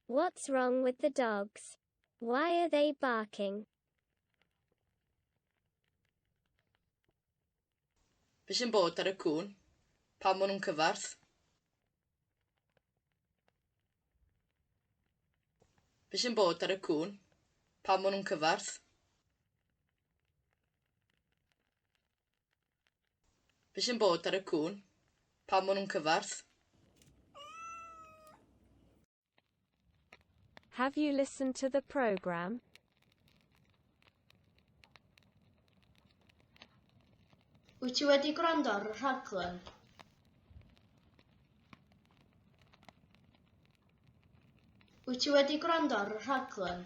What's wrong with the dogs? Why are they barking? Be sy'n bod ar y cŵn? Pam maen nhw'n cyfarth? Be sy'n bod ar y cŵn? Pam maen nhw'n cyfarth? Be sy'n bod ar y cŵn? Pam maen nhw'n cyfarth? Have you listened to the program? Wyt ti wedi gwrando ar y rhaglen? Wyt ti wedi gwrando ar y rhaglen?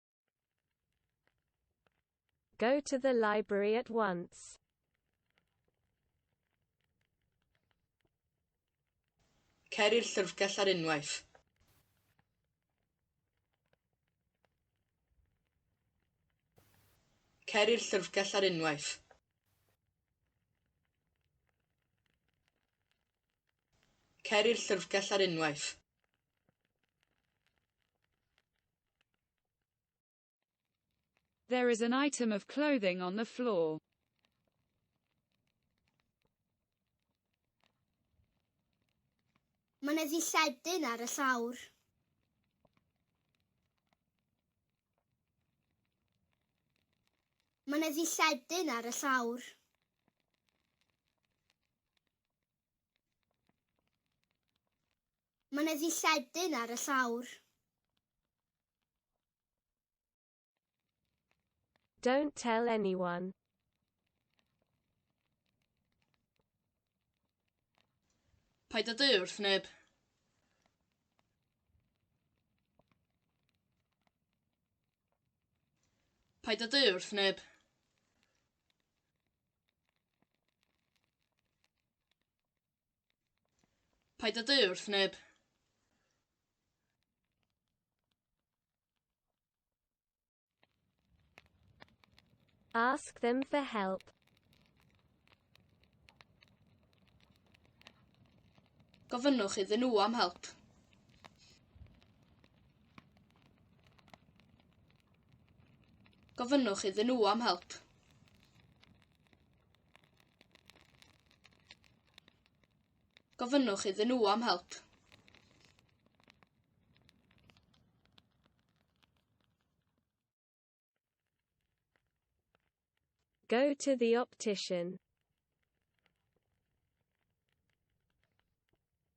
Go to the library at once. Cer i'r llyfrgell ar unwaith. Cer i'r llyfrgell ar unwaith. Cer i'r llyfrgell ar unwaith. There is an item of clothing on the floor. Mae yna ddilledyn ar y llawr. Mae yna ddilledyn ar y llawr. Mae yna ddilledyn ar y llawr. Don't tell anyone. Paid â deu wrth neb. Paid â deu wrth neb. Paid â deu wrth neb. Ask them for help. Gofynnwch iddyn nhw am help. Gofynnwch iddyn nhw am help. Gofynnwch iddyn nhw am help. Go to the optician.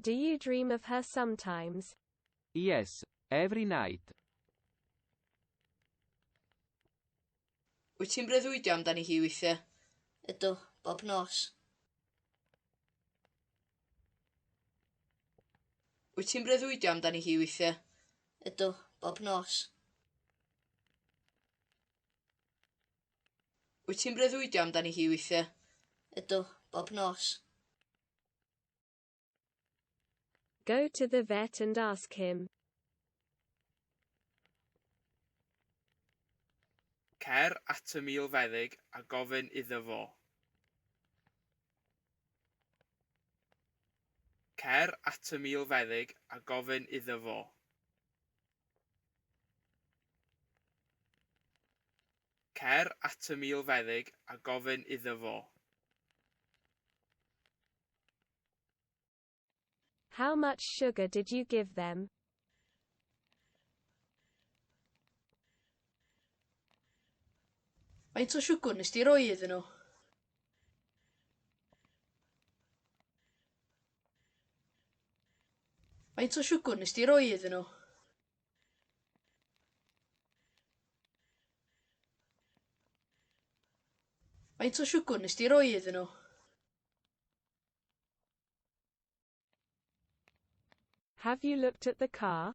Do you dream of her sometimes? Yes, every night. Wyt ti'n breuddwydio amdani hi weithiau? Ydw, bob nos. Wyt ti'n breuddwydio amdani hi weithiau? Ydw, bob nos. Wyt ti'n breuddwydio amdani hi weithiau? Ydw, bob nos. Go to the vet and ask him. Cer at y milfeddyg a gofyn iddo fo. Cer at y milfeddyg a gofyn iddo fo. Cer at y milfeddyg a gofyn iddo fo. How much sugar did you give them? Faint o siwgwr nes di roi iddyn nhw? Faint o siwgr nes di roi iddyn nhw? Faint o siwgr nes di roi iddyn nhw? Have you looked at the car?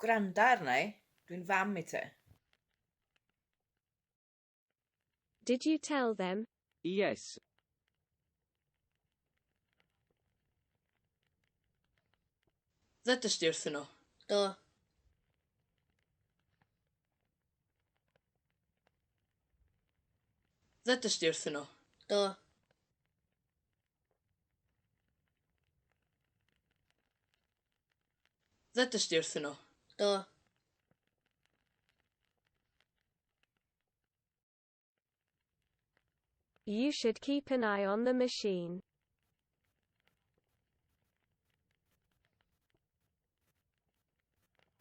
Gwranda arna i, dwi'n fam i ti. Did you tell them? Yes. Ddedais di wrthyn nhw? Do. Ddedais di wrthyn nhw? Do. Ddedais di wrthyn nhw? Do. You should keep an eye on the machine.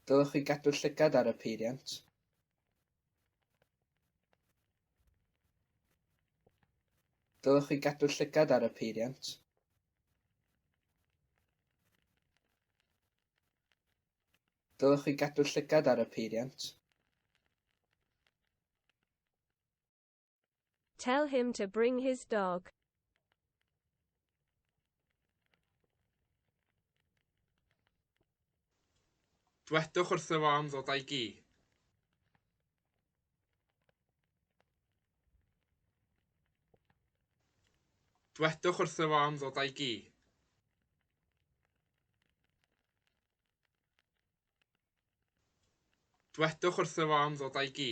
Dylech chi gadw llygad ar y peiriant. Dylech chi gadw llygad ar y peiriant. Dylech chi gadw llygad ar y peiriant. Tell him to bring his dog. Dwedwch wrtho fo am ddod â'i gi. Dwedwch wrtho fo am ddod â'i gi. Dwedwch wrtho fo am ddod â'i gi.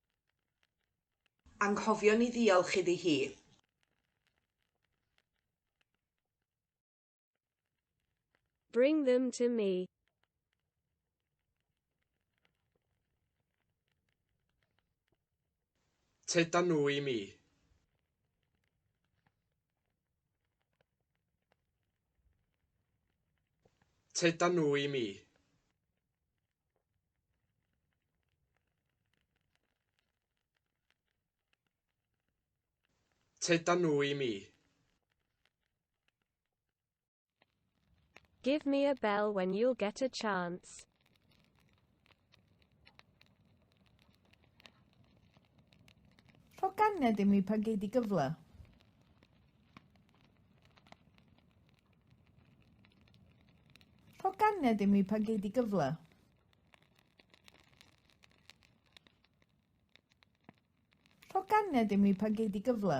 Anghofio ni ddiolch iddi hi. Bring them to me. Tyda nhw i mi. Tyda nhw i mi. Tyda nhw i mi. Give me a bell when you'll get a chance. Rho ganed i mi pan gei di gyfle. Rho ganed i mi pan gei di gyfle. Rho ganed i mi pan gei di gyfle.